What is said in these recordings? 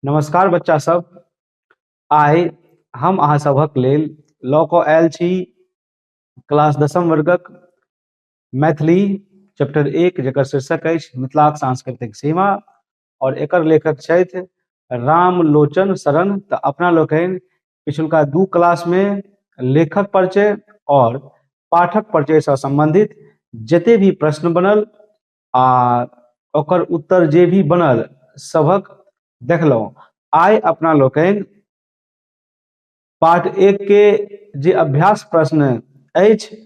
नमस्कार बच्चा सब आइ हम अहाँ सभक लेल लऽ कऽ आयल छी क्लास दसम वर्गक मैथिली चैप्टर एक जकर शीर्षक अछि मिथिलाक सांस्कृतिक सीमा आओर एकर लेखक छथि रामलोचन शरण तऽ अपना लोकनि पिछुलका दू क्लासमे लेखक परिचय आओर पाठक परिचयसँ सम्बन्धित जते भी प्रश्न बनल आ ओकर उत्तर जे भी बनल सभक देखलहुँ आइ अपना लोकनि पाठ एक के जे अभ्यास प्रश्न अछि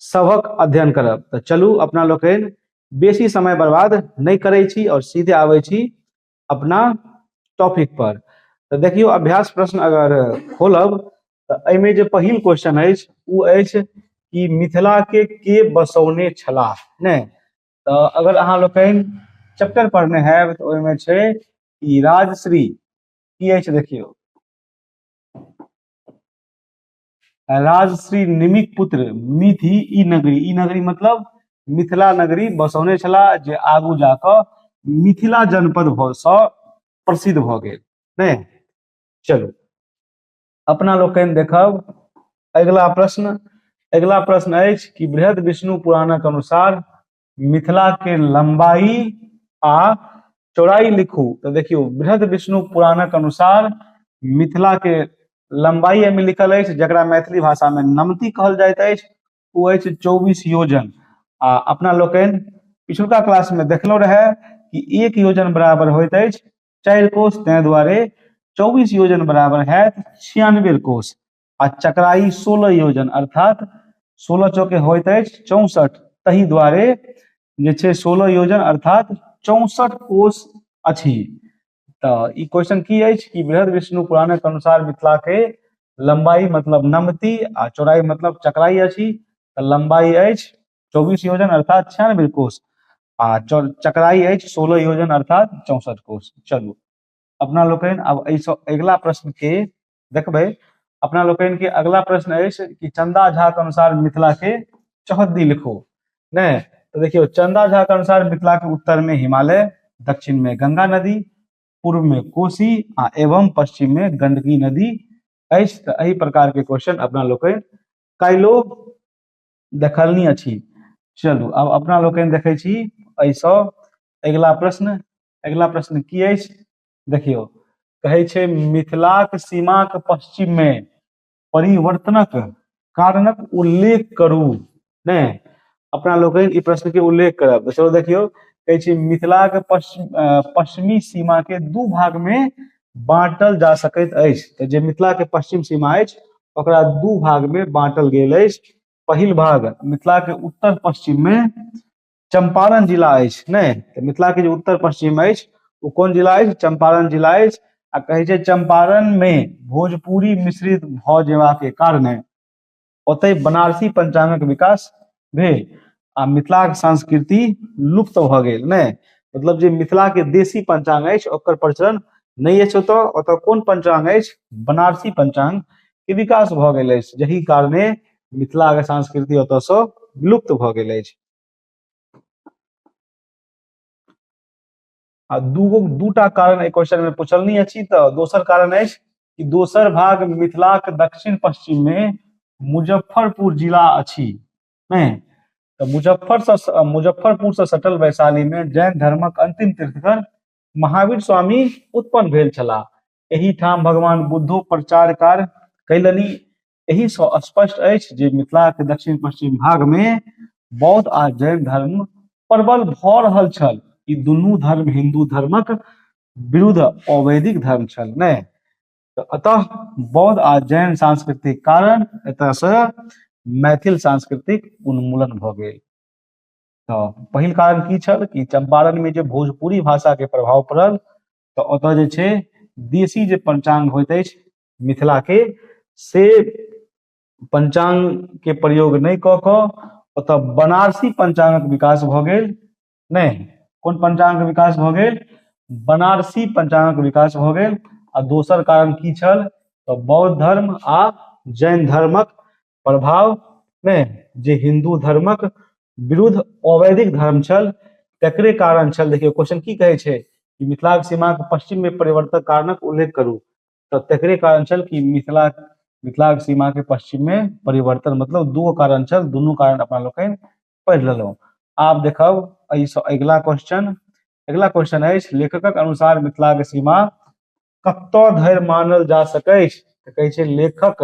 सभक अध्ययन करब तऽ चलू अपना लोकनि बेसी समय बर्बाद नहि करै छी आओर सीधे आबै छी अपना टॉपिक पर तऽ देखियौ अभ्यास प्रश्न अगर खोलब तऽ एहिमे जे पहिल क्वेश्चन अछि ओ अछि कि मिथिला के के बसौने छलाह नहि तऽ अगर अहाँ लोकनि चैप्टर पढ़ने हैब तऽ ओहिमे छै ई राजश्री की अछि देखियौ राजश्री निमिक पुत्र मिथि ई नगरी ई नगरी मतलब मिथिला नगरी बसौने छलाह जे आगू जाकऽ मिथिला जनपद भऽ सँ प्रसिद्ध भऽ गेल नहि चलू अपना लोकनि देखब अगिला प्रश्न अगिला प्रश्न अछि कि बृहद विष्णु पुराणक अनुसार मिथिला के लंबाई आ चौड़ाई लिखू तो देखियो बृहद विष्णु पुराणक अनुसार मिथिला के लंबाई एहिमे लिखल अछि जकरा मैथिली भाषा में नमती कहल जाइत अछि ओ अछि चौबीस योजन आ अपना लोकनि पिछुलका क्लास में देखलो रहे कि एक योजन बराबर होइत अछि चारि कोष ताहि दुआरे चौबीस योजन बराबर है छियानवे कोष आ चक्राई सोलह योजन अर्थात सोलह चौके होइत अछि चौसठ तहि दुआरे जे छै सोलह योजन अर्थात चौसठ कोष अछि तऽ ई क्वेश्चन की अछि कि बृहद विष्णु पुराणक अनुसार मिथिला के लंबाई मतलब नमती आ चौड़ाई मतलब चक्राई अछि तऽ लंबाई अछि चौबीस योजन अर्थात छियानबे कोष आ चक्राई अछि सोलह योजन अर्थात चौसठ कोष चलू अपना लोकनि आब एहिसँ अगिला प्रश्न के देखबै अपना लोकनि के अगला प्रश्न अछि कि चंदा झा के अनुसार मिथिला के चौहद्दी लिखो नहीं तो देखियो चंदा झा के अनुसार मिथिला के उत्तर में हिमालय दक्षिण में गंगा नदी पूर्व में कोसी आ एवं पश्चिम में गंडकी नदी अछि तऽ एहि प्रकार के क्वेश्चन अपना लोकनि काल्हिओ देखलनी अछि चलू आब अपना लोकनि देखै छी एहिसँ अगिला प्रश्न अगिला प्रश्न की अछि देखियौ कहै छै मिथिलाक सीमाक पश्चिम मे परिवर्तनक कारणक उल्लेख करू ने अपना लोकनि ई प्रश्न के उल्लेख करब सेहो देखियौ कहै छै मिथिला के पश्चिम पश्चिमी सीमा के दू भाग मे बाँटल जा सकैत अछि तऽ जे मिथिला के पश्चिम सीमा अछि ओकरा दू भाग मे बाँटल गेल अछि पहिल भाग मिथिला के उत्तर पश्चिम मे चंपारण जिला अछि नहि तऽ मिथिला के जे उत्तर पश्चिम अछि ओ कोन जिला अछि चंपारण जिला अछि आ कहै छै चंपारण मे भोजपुरी मिश्रित भऽ जेबाक कारणे ओतहि बनारसी पंचांगक विकास भेल आ मिथिलाक संस्कृति लुप्त भऽ गेल ने मतलब जे मिथिला के देशी पंचांग अछि ओकर प्रचलन नहि अछि ओतऽ ओतऽ कोन पंचांग अछि बनारसी पंचांग के विकास भऽ गेल अछि जहि कारणे मिथिला के संस्कृति ओतऽ सँ विलुप्त भऽ गेल अछि आ दूगो दूटा कारण एहि क्वेश्चन में पूछल नहीं अछि तो दोसर कारण अछि कि दोसर भाग मिथिलाक दक्षिण पश्चिम में मुजफ्फरपुर जिला अछि नहीं तो मुजफ्फर से मुजफ्फरपुर से सटल वैशाली में जैन धर्मक अंतिम तीर्थकर महावीर स्वामी उत्पन्न भेल छलाह एही ठाम भगवान बुद्धो प्रचार कार्य कैलनि एहि सँ स्पष्ट अछि जे मिथिला के दक्षिण पश्चिम भाग में बौद्ध आ जैन धर्म प्रबल भऽ रहल छल ई दुनू धर्म हिंदू धर्मक विरुद्ध अवैदिक धर्म छल ने अतः बौद्ध आ जैन सांस्कृतिक कारण एतय से मैथिल सांस्कृतिक उन्मूलन भऽ गेल तऽ पहिल कारण की छल कि चंपारण में जे भोजपुरी भाषा के प्रभाव पड़ल तऽ ओतय जे छै देशी जे पंचांग होइत अछि मिथिला के से पंचांग के प्रयोग नहि कऽ कऽ ओतऽ बनारसी पंचांगक विकास भऽ गेल नहि कोन पंचांगक विकास भऽ गेल बनारसी पंचांगक विकास भऽ गेल आ दोसर कारण की छल तऽ बौद्ध धर्म आ जैन धर्मक प्रभाव मे जे हिंदू धर्मक विरुद्ध अवैधिक धर्म छल तकरे कारण छल देखियौ क्वेश्चन की कहै छै कि मिथिलाक सीमाक पश्चिम में परिवर्तक कारणक उल्लेख करू तऽ तकरे कारण छल कि मिथिला मिथिलाक सीमा के पश्चिम में परिवर्तन मतलब दूगो कारण छल दुनू कारण अपना लोकनि पढ़ि लेलहुँ आब देखब एहिसँ अगिला क्वेश्चन अगिला क्वेश्चन अछि लेखकक अनुसार मिथिलाक सीमा कतऽ धरि मानल जा सकैछ तऽ कहै छै लेखक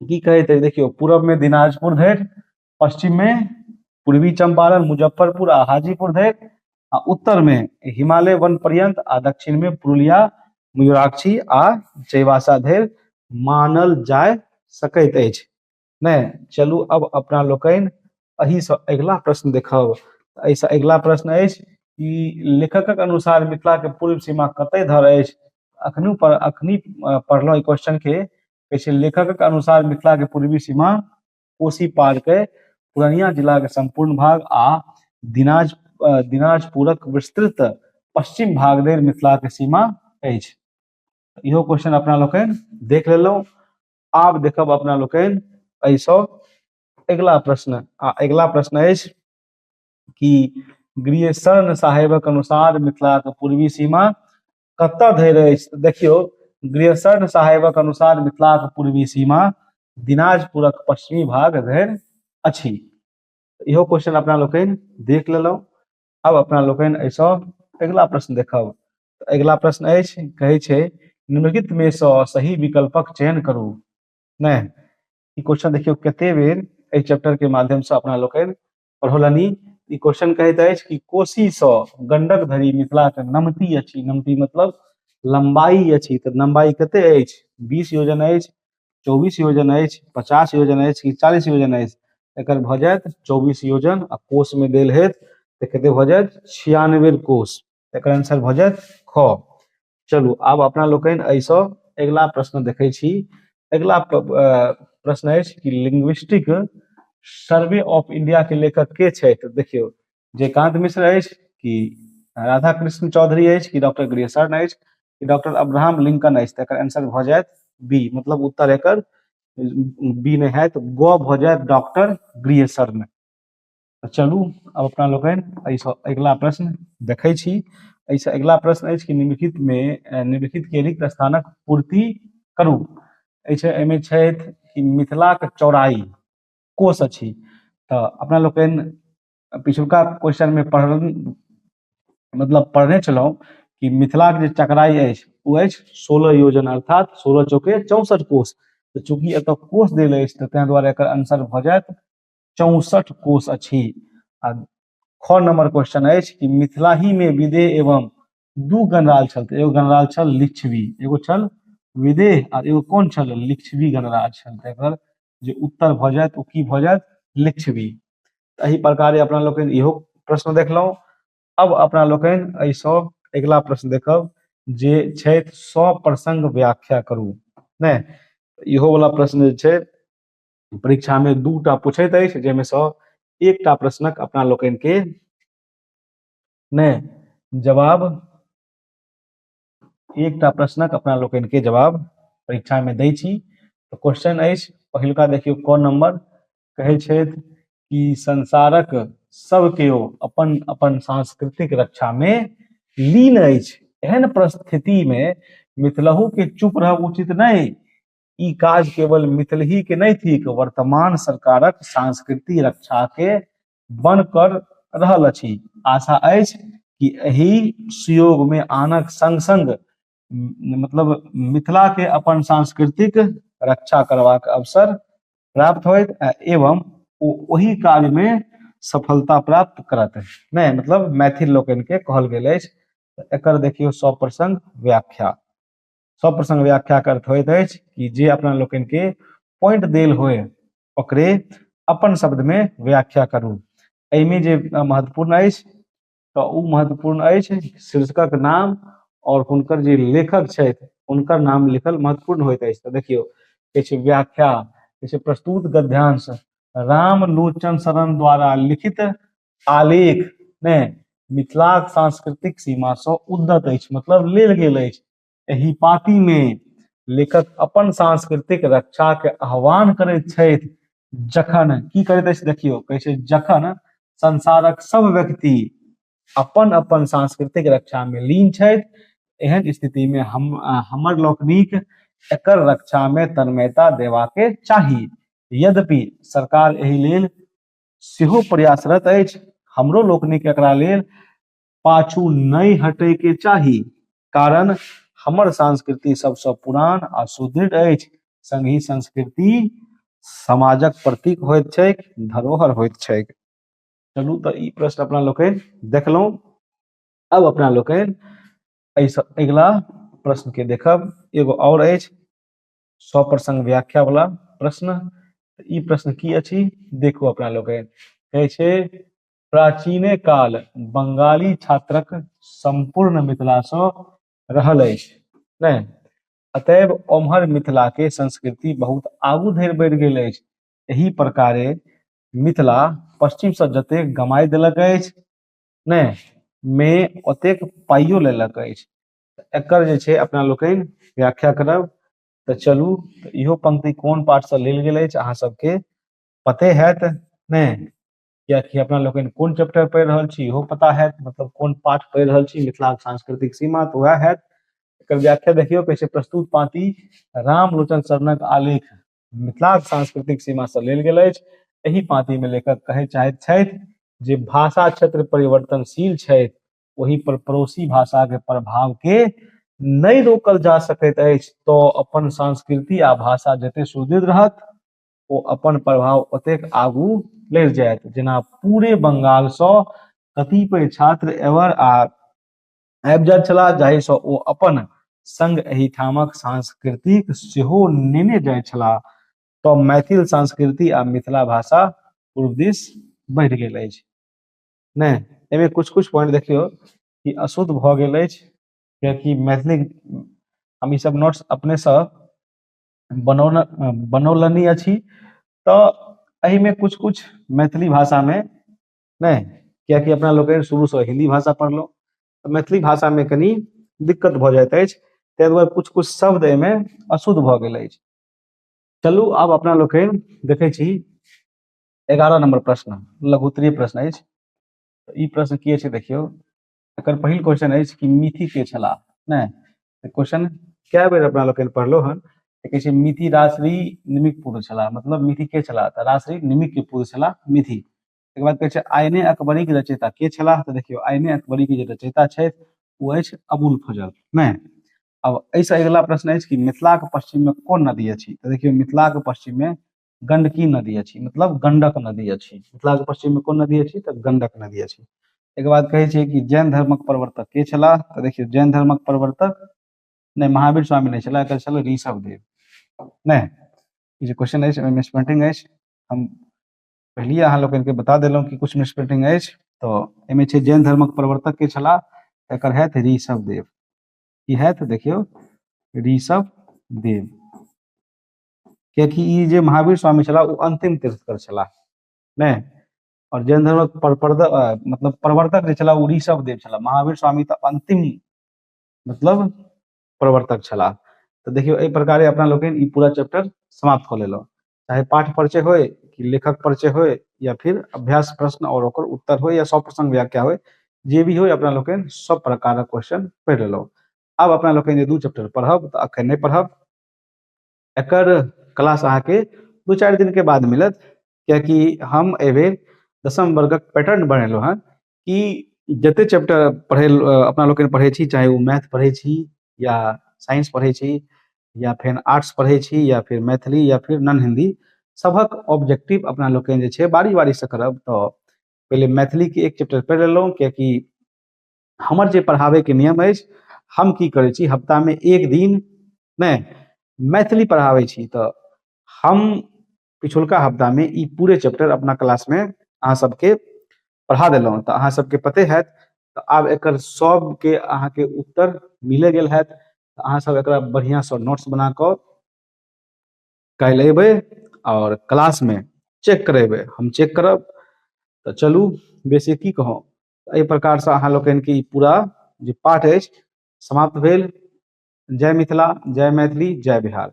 की कहै छै देखियौ पूरब में दिनाजपुर धरि पश्चिम में पूर्वी चंपारण मुजफ्फरपुर आ हाजीपुर धरि आ उत्तर में हिमालय वन पर्यंत आ दक्षिण में पुरुलिया मयूराक्षी आ चैवासा धरि मानल जाय सकैत अछि नहि चलू अब अपना लोकनि एहिसँ अगिला प्रश्न देखब एहिसँ अगिला प्रश्न अछि कि लेखकक अनुसार मिथिलाके पूर्व सीमा कतय धर अछि अखनू पर अखनी पढ़लहुँ ई क्वेश्चन के कहै छै लेखकक अनुसार मिथिला के पूर्वी सीमा कोसी पार के पूर्णिया जिला के संपूर्ण भाग आ दिनाज दिनाजपुरक विस्तृत पश्चिम भाग धरि मिथिला के सीमा अछि इहो क्वेश्चन अपना लोकनि देख लेलहुँ आब देखब अपना लोकनि एहिसँ अगिला प्रश्न आ अगिला प्रश्न अछि कि गृहशरण साहेबक अनुसार मिथिलाक पूर्वी सीमा कतऽ धरि अछि तऽ देखियौ ग्रेसर साहेबक अनुसार मिथिलाक पूर्वी सीमा दिनाजपुरक पश्चिमी भाग धरि अछि इहो क्वेश्चन अपना लोकनि देख लेलहुँ आब अपना लोकनि एहिसँ अगिला प्रश्न देखब अगिला प्रश्न अछि कहै छै निम्नलिखित मे सँ सही विकल्पक चयन करू नहि ई क्वेश्चन देखियौ कते बेर एहि चैप्टर के माध्यम से अपना लोकनि पढ़ौलनि ई क्वेश्चन कहैत अछि कि कोसी सँ गंडक धरि मिथिला के नमती अछि नमती मतलब लंबाई अछि तऽ लंबाई कते अछि बीस योजन अछि चौबीस योजन अछि पचास योजन अछि कि चालीस योजन अछि एकर भऽ जायत चौबीस योजन आ कोष में देल हेत तऽ कते भऽ जायत छियानवे कोष एकर आंसर भऽ जायत ख चलू आब अपना लोकनि एहिसँ अगिला प्रश्न देखै छी अगिला प्रश्न अछि कि लिंग्विस्टिक सर्वे ऑफ इंडिया के लेखक के छथि देखियौ जयकांत मिश्र अछि कि राधा कृष्ण चौधरी अछि कि डॉक्टर ग्रेसर्न अछि कि डॉक्टर अब्राहम लिंकन अछि तकर आंसर भऽ जायत बी मतलब उत्तर एकर बी नहि हैत ग भऽ जायत डॉक्टर ग्रियसर्न तऽ चलू आब अपना लोकनि एहिसँ अगिला प्रश्न देखै छी एहिसँ अगिला प्रश्न अछि कि निम्नलिखितमे अ, निम्नलिखितके रिक्त स्थानक पूर्ति करू एहिसँ एहिमे छथि कि मिथिलाक चौड़ाई कोस अछि तऽ अपना लोकनि पिछुलका क्वेश्चनमे पढ़ल मतलब पढ़ने छलहुँ कि मिथिलाक जे चकराई अछि ओ अछि सोलह योजन अर्थात सोलह चौके चौसठ कोस तऽ चूंकि एतय कोस देल अछि तऽ ताहि दुआरे एकर आंसर भऽ जायत चौसठ कोष अछि आ छओ नंबर क्वेश्चन अछि कि मिथिला ही में विदेह एवं दू गणराज छल तऽ एगो गणराज छल लिच्छवी एगो छल विदेह आ एगो कोन छल लिच्छवी गणराज छल तऽ एकर जे उत्तर भऽ जायत ओ की भऽ जायत लिच्छवी तऽ एहि प्रकारे अपना लोकनि इहो प्रश्न देखलहुँ अब अपना लोकनि एहिसँ अगिला प्रश्न देखब जे छथि सप्रसंग व्याख्या करू नहि इहो वाला प्रश्न जे छै परीक्षा में दू टा पूछैत अछि जाहिमे सँ एकटा प्रश्नक अपना लोकनि के नहि जवाब एकटा प्रश्नक अपना लोकनि के जवाब परीक्षा में दै छी तऽ क्वेश्चन अछि पहिलुका देखियौ क नंबर कहै छथि कि संसारक सब केओ अपन अपन सांस्कृतिक रक्षा में लीन अछि एहन परिस्थिति में मिथिलहु के चुप रहब उचित नहि ई काज केवल मिथिलही के नहीं थिक वर्तमान सरकारक संस्कृति रक्षा के बन कर रहल अछि आशा अछि कि एहि सुयोग में आनक संग संग मतलब मिथिला के अपन सांस्कृतिक रक्षा करबाक अवसर प्राप्त होइत एवं ओ ओहि काज में सफलता प्राप्त करत नहीं मतलब मैथिल लोकनि के कहल गेल अछि एकर देखियो सप्रसंग व्याख्या सब प्रसंग व्याख्या के अर्थ होइत अछि कि जे अपना लोकनि के पॉइंट देल होय ओकरे अपन शब्द में व्याख्या करू एहिमे जे महत्वपूर्ण अछि तऽ ओ महत्वपूर्ण अछि शीर्षकक नाम और हुनकर जे लेखक छथि हुनकर नाम लिखल महत्वपूर्ण होइत अछि तऽ देखियौ किछु व्याख्या किछु प्रस्तुत गद्यांश रामलोचन शरण द्वारा लिखित आलेख ने मिथिलाक सांस्कृतिक सीमा से उद्दत अछि मतलब लेल गेल अछि एहि पाती मे लेखक अपन सांस्कृतिक रक्षा के आह्वान करैत छथि जखन की करैत अछि देखियौ कहै छै जखन संसारक सब व्यक्ति अपन अपन सांस्कृतिक रक्षा में लीन छथि एहन स्थिति में हम हमर लोकनिक एकर रक्षा में तन्मयता देवा के चाही यद्यपि सरकार एहि लेल सेहो प्रयासरत अछि हमरो लोकनिक एकरा लेल पाछू नहि हटे के चाही कारण हमर संस्कृति सबसँ पुरान आ सुदृढ़ अछि संगहि संस्कृति समाजक प्रतीक होइत छैक धरोहर होइत छैक चलू तऽ ई प्रश्न अपना लोकनि देखलहुँ अब अपना लोकनि एहिसँ अगिला प्रश्नके देखब एगो आओर अछि सप्रसंग व्याख्या वाला प्रश्न ई प्रश्न की अछि देखू अपना लोग कहै छै प्राचीने काल बंगाली छात्रक संपूर्ण मिथिला से रहल अछि नहि अतएव ओम्हर मिथिला के संस्कृति बहुत आगू धरि बढ़ि गेल अछि एहि प्रकारे मिथिला पश्चिम से जते गमाय देलक अछि नहि मे ओतेक पाइयो लेलक अछि एकर जे छै अपना लोकनि व्याख्या करब तऽ चलू तऽ इहो पंक्ति कोन पाठसँ लेल गेल अछि अहाँ सबके पते हैत नहि कियाकि अपना लोकनि कोन चैप्टर पढ़ि रहल छी इहो पता हैत मतलब कोन पाठ पढ़ि रहल छी मिथिलाक सांस्कृतिक सीमा तऽ वएह हैत एकर व्याख्या देखियौ कहै छै प्रस्तुत पाँति रामलोचन शरणक आलेख मिथिलाक सांस्कृतिक सीमासँ लेल गेल अछि एहि पाँतिमे लेखक कहय चाहैत छथि जे भाषा क्षेत्र परिवर्तनशील छथि ओहि पर पड़ोसी भाषा के प्रभाव के नहीं रोकल जा सकैत अछि तो अपन संस्कृति आ भाषा जते सुदृढ़ रहत ओ अपन प्रभाव ओतेक आगू लड़ जायत जेना पूरे बंगाल से कतिपय छात्र एवर आ आबि जाइत छलाह जाहि से ओ अपन संग एहिठामक सांस्कृतिक सेहो नेने जाइ छलाह तो मैथिल संस्कृति आ मिथिला भाषा पूर्व दिस बढ़ि गेल अछि ने ए में कुछ-कुछ पॉइंट देखियो की अशुद्ध भ गेल ऐच्छ किया की मैथिली हम इ सब नोट्स अपने से बनौला अ बनौलनि अछि त ए में कुछ-कुछ मैथिली भाषा में ने किया की अपना लोग शुरू से हिंदी भाषा पढ़लो त मैथिली भाषा में कनी दिक्कत भ जाइत ऐच्छ ते द्वारा कुछ-कुछ शब्द ए में अशुद्ध भ गेल ऐच्छ चलू आब अपना लोग के देखे छी। एगारह नंबर प्रश्न लघुत्तरीय प्रश्न अछि ई प्रश्न की अछि देखियौ एकर पहिल क्वेश्चन अछि कि मिथि के छलाह नहि क्वेश्चन कए बेर अपना लोकनि पढ़लहुँ हन कहै छै मिथि रासरी निमिक पुत्र छलाह मतलब मिथि के छलाह तऽ रासरी निमिक के पुत्र छलाह मिथि तकर बाद कहै छै आयने अकबरी के रचयिता के छलाह तऽ देखियौ आयने अकबरी के जे रचयिता छथि ओ अछि अबुल फजल नहि अब एहिसँ अगिला प्रश्न अछि कि मिथिलाक पश्चिममे कोन नदी अछि तऽ देखियौ मिथिलाक पश्चिममे गंडकी नदी अछि मतलब गंडक नदी अछि मिथिला के पश्चिम में कोन नदी अछि तऽ गंडक नदी अछि एक बाद कहे छै कि जैन धर्मक प्रवर्तक के छला तऽ देखियो जैन धर्मक प्रवर्तक ने महावीर स्वामी ने छला एकर छला ऋषभ देव ने ई जे क्वेश्चन अछि ओहिमे स्पेंटिंग अछि हम पहलिए अहाँ लोकनि के बता देलहुँ कि कुछ मिसप्रिंटिंग अछि तऽ एहिमे छै जैन धर्मक प्रवर्तक के छला एकर हथि ऋषभ देव की हथि देखियौ ऋषभ देव कियाकि ई जे महावीर स्वामी छलाह ओ अंतिम तीर्थकर छलाह नहि और जैन धर्मक मतलब प्रवर्तक जे छलाह ओ ऋषभ देव छलाह महावीर स्वामी तऽ अंतिम मतलब प्रवर्तक छलाह तऽ देखियौ एहि प्रकारे अपना लोकनि ई पूरा चैप्टर समाप्त कऽ लेलहुँ चाहे पाठ परिचय होय कि लेखक परिचय होय या फिर अभ्यास प्रश्न और ओकर उत्तर होय या सब प्रसंग व्याख्या होय जे भी होय अपना लोकनि सब प्रकारक क्वेश्चन पढ़ि लेलहुँ आब अपना लोकनि जे दू चैप्टर पढ़ब तऽ अखन नहि पढ़ब एकर क्लास अहाँके दू चारि दिनके बाद मिलत कियाकि हम एहिबेर दसम वर्गक पैटर्न बनेलहुँ हँ कि जते चैप्टर पढ़ै अपना लोकनि पढ़ै छी चाहे ओ मैथ पढ़ै छी या साइंस पढ़ै छी या फेर आर्ट्स पढ़ै छी या फेर मैथिली या फेर नन हिंदी सभक ऑब्जेक्टिव अपना लोकनि जे छै बारी बारीसँ करब तऽ पहिले मैथिलीके एक चैप्टर पढ़ि लेलहुँ कियाकि हमर जे पढ़ाबैके नियम अछि हम की करै छी हफ्तामे एक दिन नहि मैथिली पढ़ाबै छी तऽ हम पिछुलका हफ्तामे ई पूरे चैप्टर अपना क्लासमे अहाँ सबके पढ़ा देलहुँ तऽ अहाँ सबके पते हैत तऽ आब एकर सबके अहाँके उत्तर मिले गेल हैत तऽ अहाँ सब एकरा बढ़िआँसँ नोट्स बना कऽ काल्हि अयबै आओर क्लासमे चेक करेबै हम चेक करब तऽ चलू बेसी की कहौं एहि प्रकारसँ अहाँ लोकनिके ई पूरा जे पाठ अछि समाप्त भेल जय मिथिला जय मैथिली जय बिहार